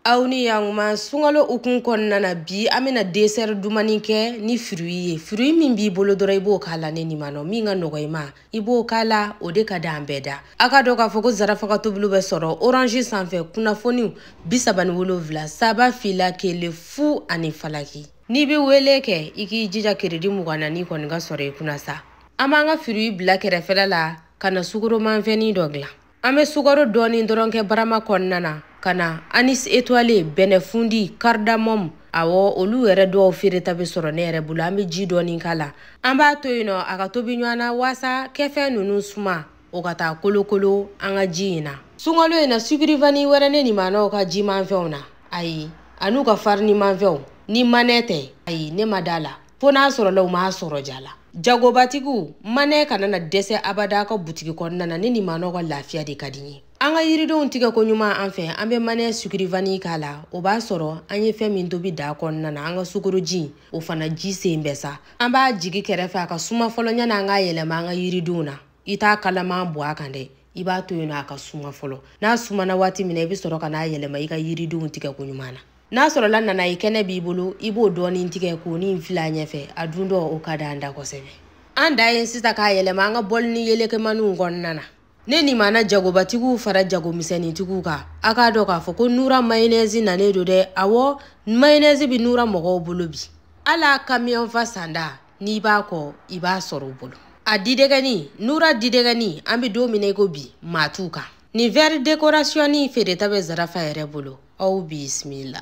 aw ni yankuma sunkalo hukun kɔnɔna na bi an bɛna desɛri dumani kɛ ni firuyi ye firuyi min b'i bolo dɔrɔn i b'o k'a la ne nimanɔw min ka nɔgɔ i ma i b'o k'a la o de ka d'an bɛɛ da a k'a dɔn k'a fɔ ko zarafa ka tobiliw bɛ sɔrɔ orange sanfɛ kunnafoniw bi saba ni wolonwula saba fila kelen fu ani falaki n'i bɛ wele kɛ i k'i jija keredi mugan na n'i kɔni k'a sɔrɔ i kunna sa an b'an ka firuyi bila kɛrɛfɛla la ka na sukoromanfɛnni dɔ dilan an bɛ sukaro dɔɔni dɔrɔn kɛ barama kɔnɔna na ka na anis etoile bɛnɛfundi kardamɔmu awɔ olu yɛrɛ dɔw feereta bɛ sɔrɔ ne yɛrɛ bolo an bɛ ji dɔɔni k'a la an b'a to yen nɔ a ka tobi ɲɔgɔn na waasa kɛfɛn ninnu suma o ka taa kolokolo an ka ji in na sunkalo in na sukirivani wɛrɛ ne nimanɔw ka jimanfɛnw na ayi an'u ka farinimanfɛnw ni manɛ tɛ ayi ne ma da la fo n'a sɔrɔla u m'a sɔrɔ ja la jagobatigiw manɛ kana na dɛsɛ abada a ka butigi kɔnɔna na ne nimanɔw ka lafiya de ka di n ye an ka yiridenw tigɛ ko ɲuman an fɛ an bɛ manɛ sukirivani k'a la o b'a sɔrɔ an ye fɛn min tobi daa kɔnɔna na an ka sukoroji o fana ji sen bɛ sa an b'a jigi kɛrɛfɛ a ka suma fɔlɔ yanni an k'a yɛlɛma an ka yiridenw na i t'a kalaman bɔn a kan dɛ i b'a to yen nɔ a ka suma fɔlɔ n'a sumana waati min na i bɛ sɔrɔ ka n'a yɛlɛma i ka yiridenw tigɛ ko ɲuman na n'a sɔrɔla nanaye kɛnɛ b'i bolo i b'o dɔɔnin tigɛ k'o ni fil'a ɲɛfɛ a dun dɔ o ka d'an da kosɛbɛ an dan ye sisan k'a yɛlɛma an ka bɔlini yelekemaniw kɔnɔna na ne nimana jagobatigiw fara jagomisɛnnintigiw kan a k'a dɔn k'a fɔ ko nura mayonɛzi nanen don dɛ awɔ mayonɛzi bɛ nura mɔgɔw bolo bi hali a kamiyɔnfa sanda n'i b'a kɔ i b'a sɔrɔ u bolo a didɛgɛni nura didɛgɛni an bɛ don min na i ko bi maa t'u kan nin vɛri dekorasiyɔni feereta bɛ zarafa yɛrɛ bolo aw bisimila